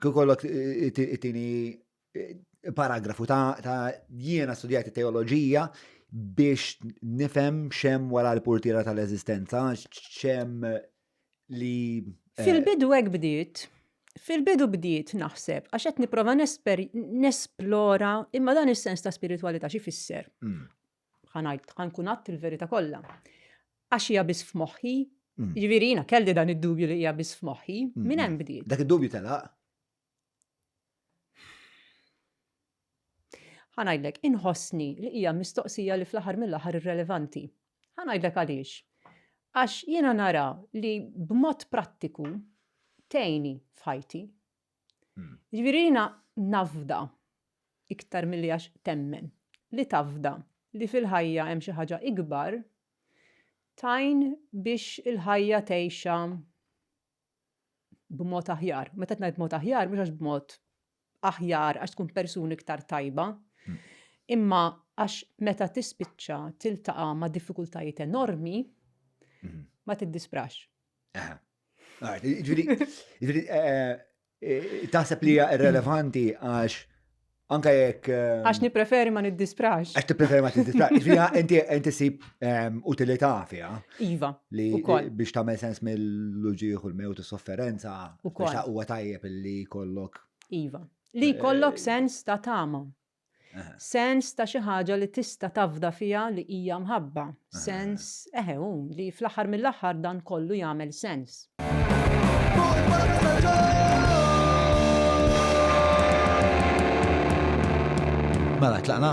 Kikollok it-tini paragrafu ta' jiena studjajt teoloġija biex nifem xem wara l-portira tal-eżistenza, xem li. Eh, Fil-bidu għek bdiet, fil-bidu bdiet naħseb, għax qed niprofa nesplora imma dan is-sens ta' spiritualità xi fisser. Mm. Ħa ngħid, ħa nkun għadt il-verità kollha. Għax hija biss f'moħħi, Mm. jiġifieri jiena kelli dan id-dubju li hija biss f'moħħi, Mm, minn hemm mm. bdiet. Dak id-dubju telaq. Ħa ngħidlek, inħossni li hija mistoqsija li fl-aħħar mill-aħħar irrelevanti. Ħa ngħidlek għaliex. Għax jiena nara li b'mod prattiku tgħini f'ħajti. Jiġifieri jiena nafda, iktar milli għax temmen, li tafda li fil-ħajja hemm xi ħaġa ikbar, tgħin biex il-ħajja tgħixha b'mod aħjar. Meta qed ngħid b'mod aħjar, mhux għax b'mod aħjar għax tkun persuna iktar tajba, imma għax meta tispiċċa tiltaqa' ma' diffikultajiet enormi, ma tiddisprax. Taħseb li hija irrelevanti għax Anka jekk. Ehm, għax nipreferi ma niddisprax. Għax nipreferi ma tiddisprax. Fija, inti sib ehm, utilità fija. Iva. Li biex tagħmel sens mill-luġieħ u l-mewt u sofferenza. U kol. Huwa tajjeb li kollok. Iva. Li eh, kollok sens ta' tama. Sens ta' xi ħaġa li tista' tafda fiha li hija mħabba. Sens, eħe hu, li fl-aħħar mill-aħħar dan kollu jagħmel sens. Mela, tlaqna?